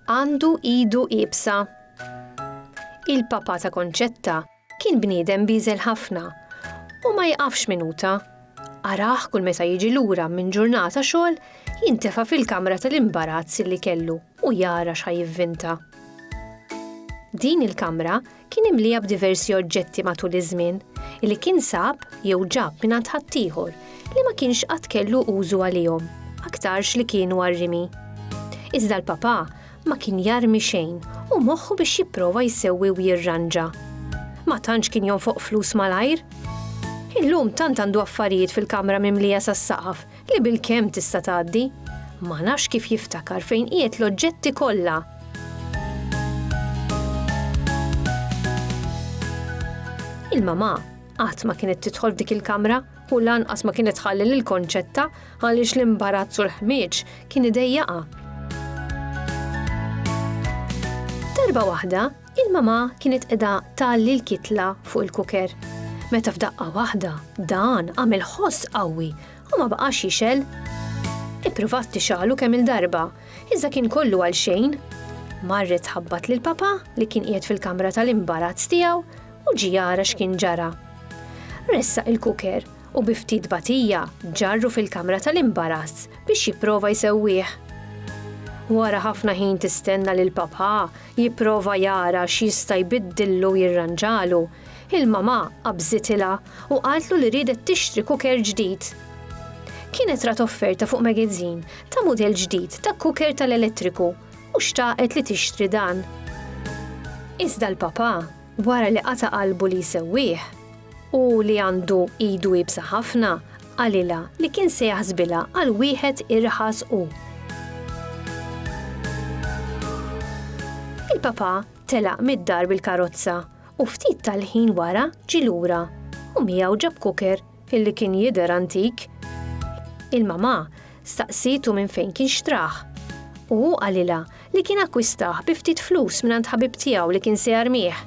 għandu idu ibsa. Il-papa ta' Konċetta kien bniedem biżel ħafna u ma jqafx minuta Arah kull meta jiġi lura minn ġurnata xogħol jintefa' fil-kamra tal-imbarazz li kellu u jara x'ħa jivvinta. Din il-kamra kien imlija b'diversi oġġetti matul iż-żmien li kien sab jew ġab minn għand ħaddieħor li ma kienx qatt kellu użu għalihom, aktarx li kienu għar-rimi. Iżda l-papà Ma kien jarmi xejn u moħħu biex jipprova jsewwi u jirranġa. Ma tantx kien jonfoq flus malajr. Illum tant għandu affarijiet fil-kamra mimlija sas-saqaf li bil-kemm tista' tgħaddi. Ma nafx kif jiftakar fejn qiegħed l-oġġetti kollha Il-mamà qatt ma kienet tidħol f'dik il-kamra u lanqas ma kienet tħalli lil Konċetta għaliex l-imbarazz u l-ħmieġ kien idejjaqha. Darba waħda, il-mama kienet qiegħda tgħalli l-kitla fuq il-kuker. Meta f'daqqa waħda dan għamel ħoss qawwi u ma baqax jixel. Ippruvat tixalu kemm il-darba, iżda kien kollu għal xejn. Marret ħabbat lil papa li kien qiegħed fil-kamra tal-imbarazz tiegħu u ġie jara x'kien ġara. Ressaq il-kuker u bi ftit batija ġarru fil-kamra tal-imbarass biex jipprova jsewwih. Wara ħafna ħin tistenna lil papà jipprova jara x'jista' jbiddillu u jirranġalu, il-mamà qabżitilha u qaltlu li riedet tixtri kuker ġdid. Kienet rat offerta fuq magazin ta' mudell ġdid ta' kuker tal-elettriku u xtaqet li tixtri dan. Iżda l-papà wara li qata' qalbu li jsewwih, u li għandu idu iebsa ħafna, qalilha li kien se jaħsbilha għal wieħed irħas u. Il-Papà telaq mid-dar bil-karozza u ftit tal-ħin wara ġie lura u miegħu ġab cooker Illi kien jidher antik. Il-mamà staqsietu minn fejn kien xtrah, u hu qalilha li kien akkwistah bi ftit flus mingħand ħabib tiegħu li kien se jarmih.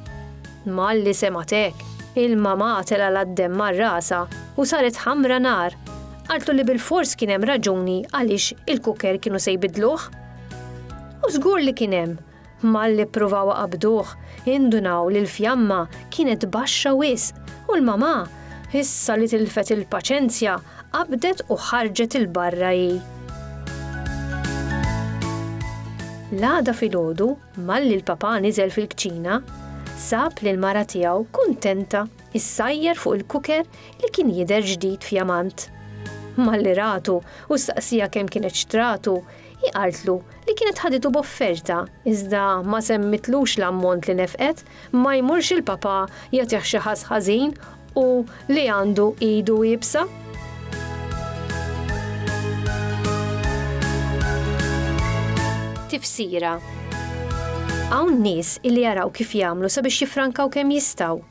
Malli semgħet hekk, il-mamà telgħalha d-demm mar rasha u saret ħamra nar. Qaltlu li bilfors kien hemm raġuni għaliex il-cooker kienu se jbiddluh. U żgur li kien hemm! Malli ppruvaw iqabbduh, indunaw li l-fjamma kienet baxxa wisq u l-mamà, issa li tilfet il-paċenzja, qabdet u ħarġet 'il barra hi. L-għada filgħodu, malli l-papà niżel fil-kċina, sab lill-mara tiegħu kuntenta issajjar fuq il-kuker li kien jidher ġdid fjamant. Malli ratu u staqsieha kemm kienet xtratu, Hi qaltlu li kienet ħaditu b'offerta iżda ma semmitlux l-ammont li nefqet, ma jmurx il-papà jagħtih xi ħass ħażin u li għandu idu iebsa. Tifsira Hawn nies illi jaraw kif jagħmlu sabiex jiffrankaw kemm jistgħu.